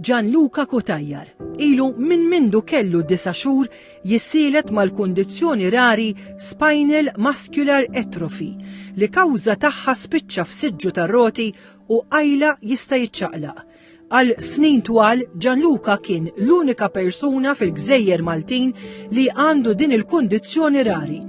Gianluca Cutajar ilu minn mindu kellu disa' xhur jissielet mal-kundizzjoni rari spinal muscular atrophy li kawża tagħha spiċċa f'siġġu tar-roti u qajla jista' jiċċaqlaq. Għal snin twal, Gianluca kien l-unika persuna fil-gżejjer Maltin li għandu din il-kundizzjoni rari.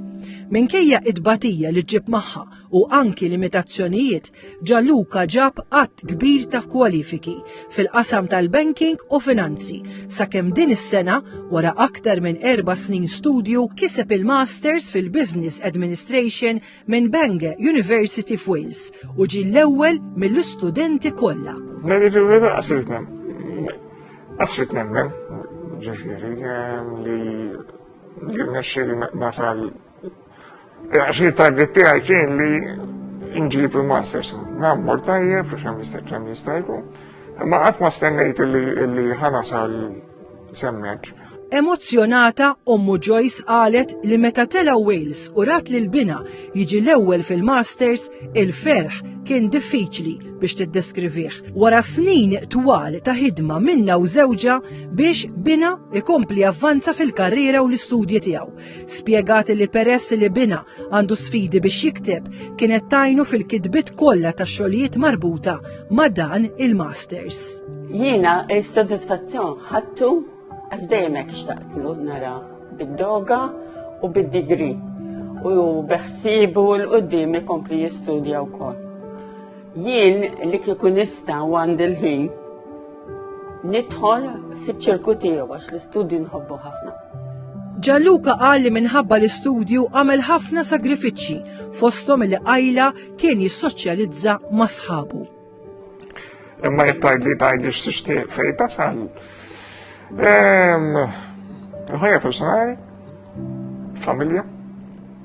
Minkejja t-tbatija li ġġib magħha, u anki limitazzjonijiet, Gianluca ġab għadd kbir ta' kwalifiki fil-qasam tal-banking u finanzi sakemm din is-sena wara aktar minn erba' snin studju kiseb il-Masters fil-Business Administration minn Bangor University f'Wales u ġie l-ewwel mill-istudenti kollha. Għasrit nemmen, ġifiri, li jirnexxiri nasal Għax il-target tiegħi kien li nġib il-masters. Nammor tajjeb, għax hemm jista' kemm jista' jkun. Imma qatt ma stennejt li ħana sal semmeġ. Emozzjonata, ommu Joyce qalet li meta tela Wales u rat li l-bina jiġi l-ewwel fil-Masters, il-ferħ kien diffiċli biex tiddeskrivih. Wara snin twal ta' ħidma minna u żewġa biex bina ikompli avvanza fil-karriera u l-istudji tiegħu. Spjegat li peress li binha għandu sfidi biex jikteb, kienet tajnu fil-kitbiet kollha ta' xogħlijiet marbuta ma' dan il-masters. Jiena s-sodisfazzjon ħadtu għax dejjem hekk xtaqtlu nara bid-doga u bid-digri u beħsibu l-qoddim ikompli jistudja wkoll. Jien li kieku nista' għandi l-ħin Nidħol fiċ-ċirku tiegħu għax l-istudju nħobbu ħafna. Gianluca qal li minħabba l-istudju għamel ħafna sagrifiċċji fosthom li qajla kien jissoċjalizza ma' sħabu. Imma jekk tgħidli tgħidli x'tixtieq fejn tasal. Ħajja personali, familja,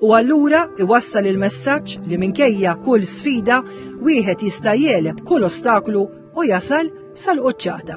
u allura iwassal il-messaġġ li minkejja kull sfida wieħed jista' jeleb kull ostaklu u jasal sal-quċċata.